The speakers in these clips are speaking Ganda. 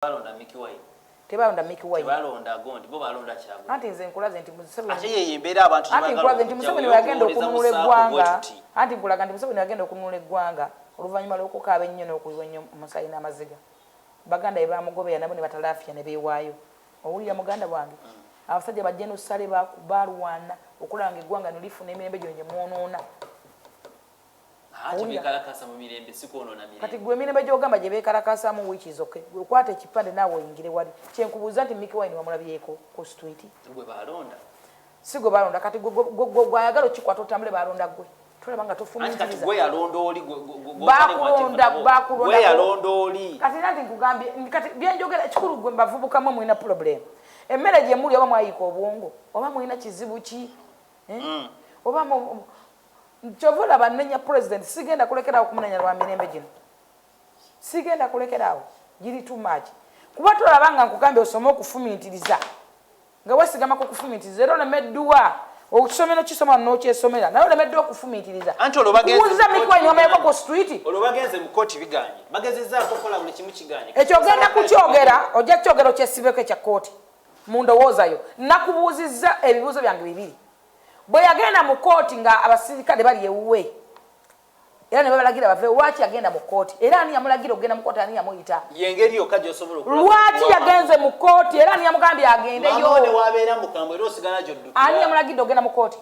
Baalonda Mickey Wine. Tebaalonda Mickey Wine. Tebaalonda Gondi, bo baalonda Kyagulanyi. Anti nze nkulaze nti Museveni. Ate yeyo embeera abantu gye baagala okujjawo y'okuwooleza musaako bwe tuti. Anti nkulaze nti Museveni weyagenda okununula eggwanga. Anti nkulaga nti Museveni weyagenda okununula eggwanga oluvannyuma lw'okukaaba ennyo n'okuyiwa ennyo omusaayi n'amaziga. Baganda be baamugoberera nabo ne batalaafiya ne beewaayo. Owulira muganda wange? Abasajja ba Gen. Ssali baalwana okulaba ng'eggwanga lino lifuna emirembe gino gye mwonoona. kati gwe emirembe gyogamba gye beekalakaasamu wiiki zoke gwe kwata ekipande naawe oyingire wali kyenkubuuza nti miki wine wamulabyeko ku street si gwe balonda kati gwayagala okikwata otambule balonda gwe tulaba nga tofumiirizaakulondakatira nti nkugambye kati byenjogera kikulu gwe mbavubukamu mulina pulobulemu emmere gyemuli oba mwayiika obwongo oba mulina kizibu ki eh? mm. oba Kyova olaba nnenya president sigenda kulekerawo kumunenya lwa mirembe gino sigenda kulekerawo giri too much kuba tolaba nga nkugambye osome okufumintiriza nga wesigama ku kufumintiriza era oleme dduwa okisomero kisoma nokyesomera naye oleme dduwa okufumintiriza kuwuliza mikwanyi omayeko ku street ekyo ogenda kukyogera ojja kukyogera okyesibeko ekya kooti mu ndowooza yo nakubuuzizza ebibuuzo byange bibiri bwe yagenda mu kkooti nga abasirikale bali ewuwe era ne babalagira bave lwaki yagenda mu kkooti era ani yamulagira okugenda mu kkooti ani yamuyita yengeri yokka gyosobola lwaki yagenze mu kkooti era ani yamugambye agendeyowabeera mukambwe era osigala gyoddu ani yamulagidde okugenda mu kkooti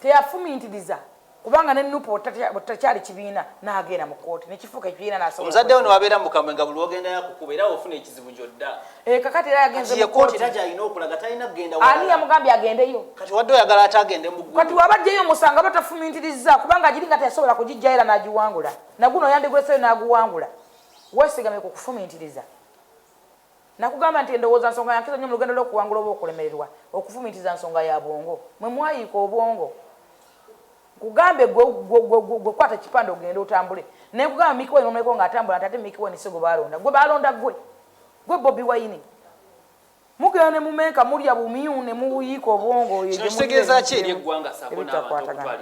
teyafumintiriza kubanga ne nup bwetakyali kibiina nagenda mu kooti nekifuuka ekibiina nasobola omuzadde ono wabeera mu kamwe nga buli wogenda yakukuba era ofuna ekizibu gyodda eh, kakati era yagenze mu kooti era gyalina okulaga talina kugenda ani yamugambye agendeyo kati wadde oyagala ate agende mu ggulu kati waba jjeyo omusango aba tafumintiriza kubanga agiri nga teyasobola kugijja era nagiwangula naguno yandigweseyo naguwangula wesigamye ku kufumintiriza Nakugamba nti endowooza nsonga ya nkizo nnyo mu lugendo lw'okuwangula oba okulemererwa. Okufumiitiriza nsonga ya bwongo. Mwe mwayiika obwongo. Nkugambe ggwe, ggwe, ggwe, ggwe, ggwe kwata ekipande ogende otambule. Ne nkugamba Mickey Wine omuleko nga atambula nti ate Mickey Wine si gwe baalonda. Ggwe baalonda ggwe. Ggwe Bobi Wine. Mugenda ne mumenka mulya bumyu ne muyiika obwongo oyo gye muli ebitakwatagana.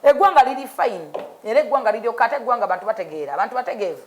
Eggwanga liri fine era eggwanga liryoka ate eggwanga bantu bategeera, abantu bategeevu.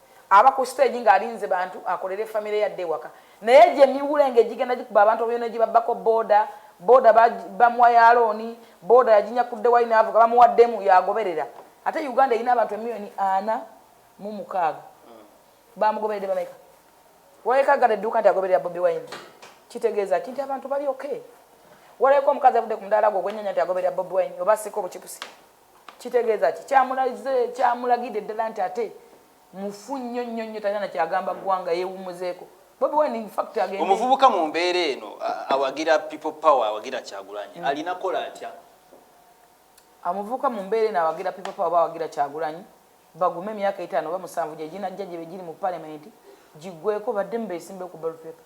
Aba ku stage nga alinze bantu akolere family ye adde ewaka naye egyo emiwulenge egigenda gikuba abantu babino negibabbako boda boda bamuwa ya loan boda yaginyakudde wali navuga bamuwaddemu yagoberera ate Uganda erina abantu emiliyoni ana mu mukaaga bamugoberedde bameka waleka gada edduuka nti agoberera Bobi Wine kitegeeza ki nti abantu bali okay waleka omukazi avudde ku mudaala gwe ogwenyanya nti agoberera Bobi Wine oba asika obucipusi Kitegeeza ki? Kyamulaze, kyamulagidde ddala nti ate mufu nnyo nnyo nnyo, talina na kyagamba ggwanga, yeewummuzeeko. Bobi Wine in fact agende. Omuvubuka mu mbeera eno awagira People Power, awagira Kyagulanyi, mm. alina kola atya? Amuvubuka mu mbeera eno awagira People Power oba awagira Kyagulanyi, bagume emyaka etaano oba musanvu gye ginajja gye giri mu palementi giggweeko badde mu beesimbewo ku ballot paper.